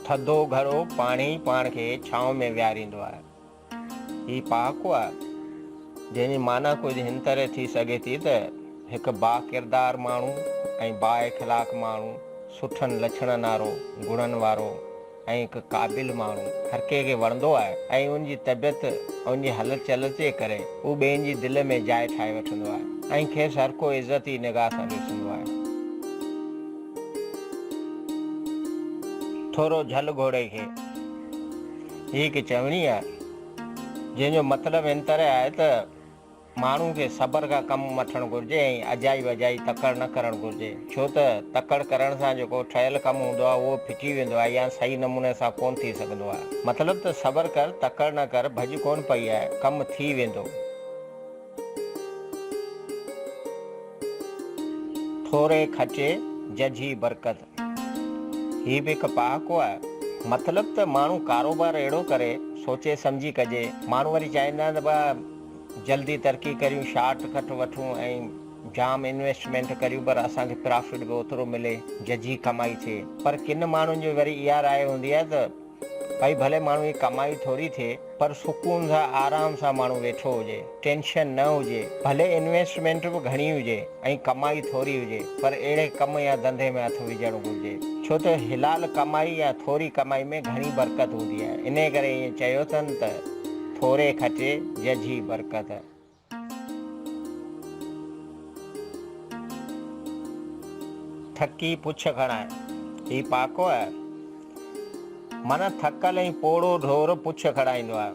ٿڌو گهرو پاڻي ئي پاڻ کي ڇانو ۾ ويهاريندو آهي. هي پهاڪو آهي، جنهن جي معنيٰ ڪجهه هن طرح ٿي سگهي ٿي ته هڪ باڪردار ماڻهو ۽ بااخلاق ماڻهو، سٺن لڇڻن وارو، گڻن وارو، ۽ هڪ قابل ماڻهو هر ڪنهن کي وڻندو آهي ۽ ان جي طبيعت ۽ ان جي هلت چلت جي ڪري هو ٻين جي دل ۾ جاء ٺاهي وٺندو آهي ۽ کيس هر ڪو عزت ئي نگاهه سان ڏسندو آهي. ٿورو جهل گهوڙي کي. هي هڪ چوڻي آهي جنهن جو مطلب هن طرح آهي ته. ماڻهو کي صبر کان ڪم وٺڻ گهرجي ۽ اجائي وجائي تڪڙ نه ڪرڻ گهرجي ڇو ته تڪڙ ڪرڻ سان جيڪو ٺهيل ڪم هوندو آهي اهو ڦٽي ويندو آهي يا صحيح نموني سان ڪونه ٿي سگهندو آهي مطلب ته صبر ڪر تڪڙ نه ڪر ڀڄ ڪونه پئي آهي ڪم ٿي ويندو. ٿوري کچي ججهي برڪت. هي به هڪ پهاڪو آهي. مطلب ته ماڻهو ڪاروبار اهڙو ڪري، سوچي سمجهي ڪجي. ماڻهو وري چاهيندا آهن ته بئا جلدي ترقي ڪريون، شارٽ ڪٽ وٺون ۽ جام انويسٽمينٽ ڪريون پر اسان کي پرافٽ به اوترو ملي، ججهي ڪمائي ٿئي. پر ڪن ماڻهن جي وري اها راء هوندي آهي ته. ڀائي ڀلي ماڻهو جي ڪمائي ٿوري ٿئي پر سڪون سان آرام سان ماڻهو ويٺو هجي ٽينشن نه هجي ڀلي انويسٽمينٽ به گهڻي هجي ۽ ڪمائي ٿوري هجي پر اهڙي ڪم يا ڌنڌي ۾ هٿ وجهڻ گهرجي ڇو ته حلال ڪمائي يا ٿوري ڪمائي ۾ گهڻي برڪت هوندي آهي انهي ڪري ائين چيو اٿن ته ٿوري کٽي ججهي برڪت. ٿڪي پڇ کڻائي، هي پاڪو آهي؟ من ٿڪل ۽ پوڙهو ڍور پڇ کڻائيندو آهي.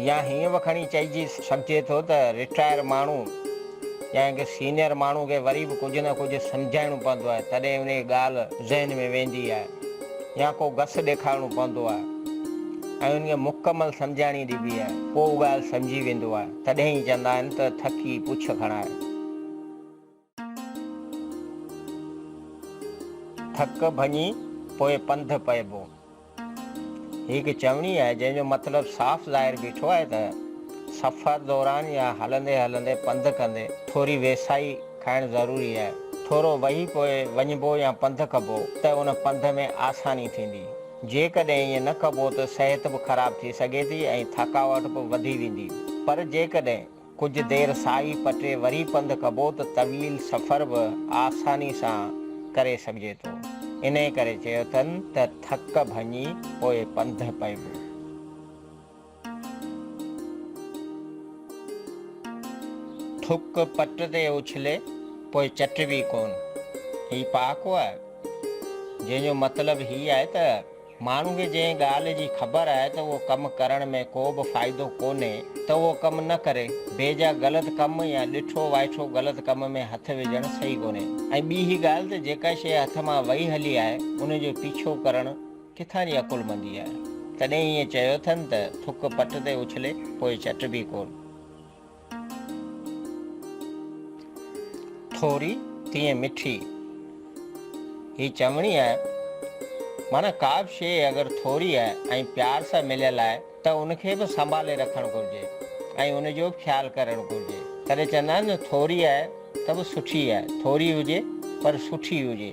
يا هيئن به کڻي چئجي سگهجي ٿو ته رٽائر ماڻهو يا ڪنهن سينئر ماڻهو کي وري به ڪجهه نه ڪجهه سمجهائڻو پوندو آهي، تڏهن انهيء ڳالهه ذهن ۾ ويندي آهي. يا ڪو گس ڏيکارڻو پوندو آهي ۽ انهيء مڪمل سمجهاڻي ڏبي آهي، پوء ڳالهه سمجهي ويندو آهي، تڏهن ئي چوندا آهن ته ٿڪي پڇ کڻائي. ٿڪ ڀڃي پوء پنڌ پئبو. هي هڪ چوڻي آهي، جنهن جو مطلب صاف ظاهر بيٺو آهي ته سفر دوران يا هلندي هلندي پنڌ ڪندي ٿوري ويساهي، کائڻ ضروري آهي. ٿورو وهي پوء وڃبو يا پنڌ ڪبو ته ان پنڌ ۾ آساني ٿيندي. جيڪڏهن ائين نه ڪبو ته صحت به خراب ٿي سگهي ٿي ۽ ٿڪاوٽ به وڌي ويندي. پر جيڪڏهن ڪجهه دير ساهي پٽي وري پنڌ ڪبو ته طويل سفر به آساني سان ڪري سگهجي ٿو. انهيء ڪري چيو اٿن ته ٿڪ ڀڃي پوء پنڌ پئبو. ٿڪ پٽ تي اڇلي پوء چٽبي ڪون. هي پهاڪو آهي، جنهن جو مطلب هي آهي ته ماڻهو کي جنهن ڳالهه جي خبر آهي ته اهو ڪم ڪرڻ ۾ ڪو به فائدو ڪونهي ته اهو ڪم نه ڪري. بي جا غلط ڪم يا ڏٺو وائٺو غلط ڪم ۾ هٿ وجهڻ صحيح ڪونهي ۽ ٻي هي ڳالهه ته جيڪا شيء هٿ مان وئي هلي آهي ان جو پيڇو ڪرڻ ڪٿان جي عقلمندي آهي؟ تڏهن ائين چيو اٿن ته ٿڪ پٽ تي اڇلي، پوء چٽبي ڪونه. ٿوري تيئن مٺي هي چوڻي آهي، معنيٰ ڪا به شيء اگر ٿوري آهي ۽ پيار سان مليل آهي ته ان کي به سنڀالي رکڻ گهرجي ۽ ان جو به خيال ڪرڻ گهرجي. تڏهن چوندا آهن نه ٿوري آهي ته به سٺي آهي، ٿوري هجي پر سٺي هجي.